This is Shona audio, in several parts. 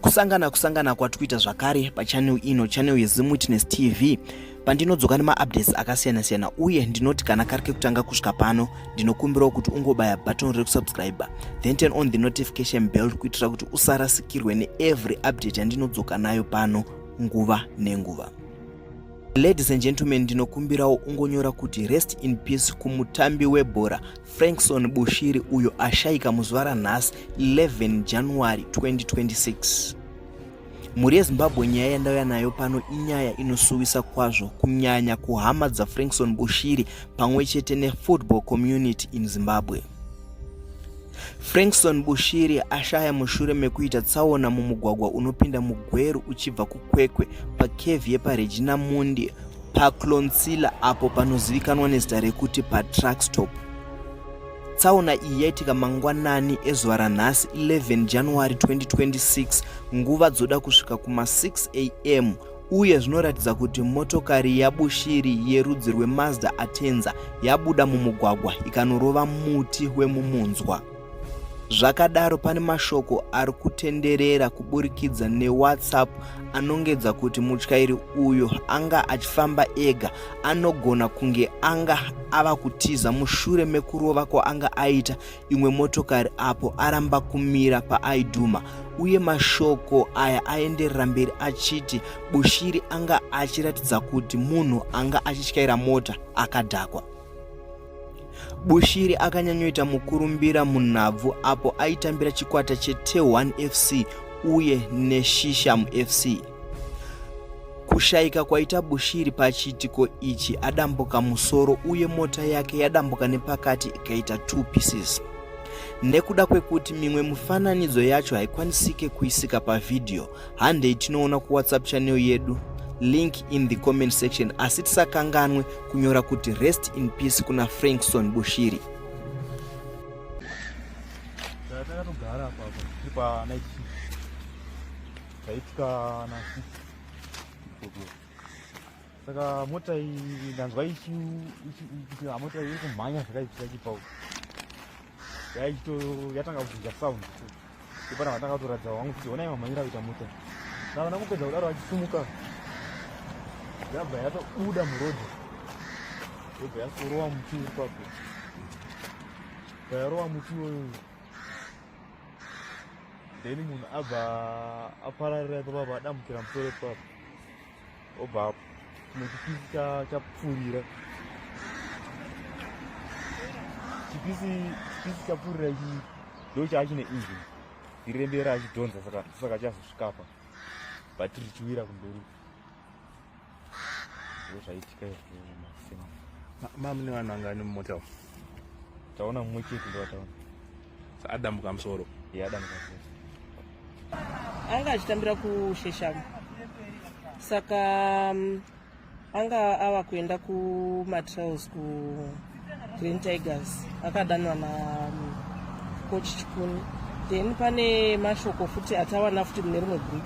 kusangana kusangana kwati kuita zvakare pachanel ino chanel yezim witness tv pandinodzoka nemaupdates akasiyana siyana uye ndinoti kana kari kekutanga kusvika pano ndinokumbirawo kuti ungobaya button rekusubscriber then turn on the notification bell kuitira kuti usarasikirwe neevery update yandinodzoka nayo pano nguva nenguva ladies and gentlemen ndinokumbirawo ungonyora kuti rest in peace kumutambi webhora Frankson Bushiri uyo ashaika muzuva ranhasi 11 January 2026. Mhuri yeZimbabwe nyaya yandauya nayo pano inyaya inosuwisa kwazvo kunyanya kuhama dzaFrankson Bushiri pamwe chete nefootball community in Zimbabwe. Frankson Bushiri ashaya mushure mekuita tsaona mumugwagwa unopinda muGweru uchibva kuKwekwe pakevi yepaRegina Mundi PaClonsilla apo panozivikanwa nezita rekuti paTruckstop. Tsaona iyi yaitika mangwanani ezuva ranhasi 11 January 2026 nguva dzoda kusvika kuma 6 am uye zvinoratidza kuti motokari yabushiri yerudzi rwemazda atenza yabuda mumugwagwa ikanorova muti wemumunzwa. Zvakadaro pane mashoko ari kutenderera kuburikidza neWhatsApp anongedza kuti mutyairi uyo anga achifamba ega anogona kunge anga ava kutiza mushure mekurova kwaanga aita imwe motokari apo aramba kumira paaidhuma uye mashoko aya aenderera mberi achiti bushiri anga achiratidza kuti munhu anga achityaira mota akadhakwa Bushiri akanyanyoita mukurumbira munhabvu apo aitambira chikwata cheT1 FC uye neShisham FC. Kushayika kwaita Bushiri pachiitiko ichi adambuka musoro uye mota yake yadambuka nepakati ikaita two pieces. Nekuda kwekuti mimwe mifananidzo yacho haikwanisike kuisika pavhidhiyo, handei tinoona kuwhatsapp channel yedu link in the comment section asi tisakanganwe kunyora kuti rest in peace kuna frankson bushiri takatogara papa taitikana saka mota iyi ndanzwa ichiti hamota iri kumhanya zvakaitika chipau yatanga kubvunja sound ipana vatanga kutoratidza wangu kuti honai mamhanyira kuita mota ndavana kupedza kudaro vachisumuka yabva yatobuda murodhi yobva yasorowa muti uri papo vayarowa muti iwoyo then munhu abva apararira ipapapa adambukira musoro ipapa obva chimwe chipisi chapfuurira chipisi chipisi chapfuurira ichi ndo chaachine engine irembera achidhonza saka saka chazosvikapa but richiwira kumberi ndo zvaitika izvo mama ne vanhu vangani mumota taona mumwe chete ndo vataona adambuka musoro yeah, adambuka musoro anga achitambira kusheshamu saka um, anga ava kuenda kumatrails kugreen tigers akadanwa nacoach um, chikuni then pane mashoko futi atawana futi mune rimwe group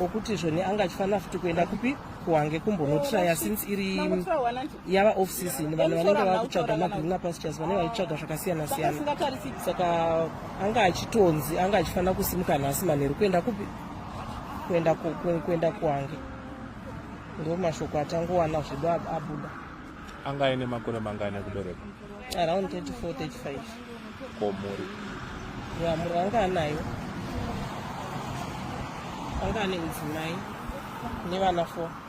okuti zvoni anga achifanira futi kuenda kupi kuhange kumbonotraya since iri yava off season vanhu vanenge vava kutsvaga magreener pastures vanenge vachitsvaga zvakasiyana siyana saka anga achitonzi anga achifanira kusimuka nhasi manheru kuenda kupi kuenda kuenda kwange ndo mashoko atangowana zvedu abuda anga aine makore mangani ekubereka around 34 35 ko mhuri ya mhuri anga anayo anga ane mudzimai nevana four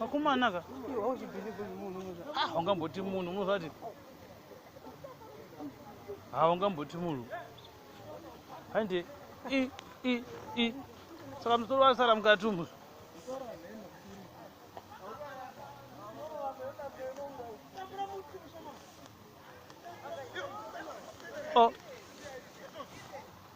akomana ka ah, ungamboti munhu unozvati ha ah, ungamboti munhu hande i i i saka musoro wasara mukati umu Oh.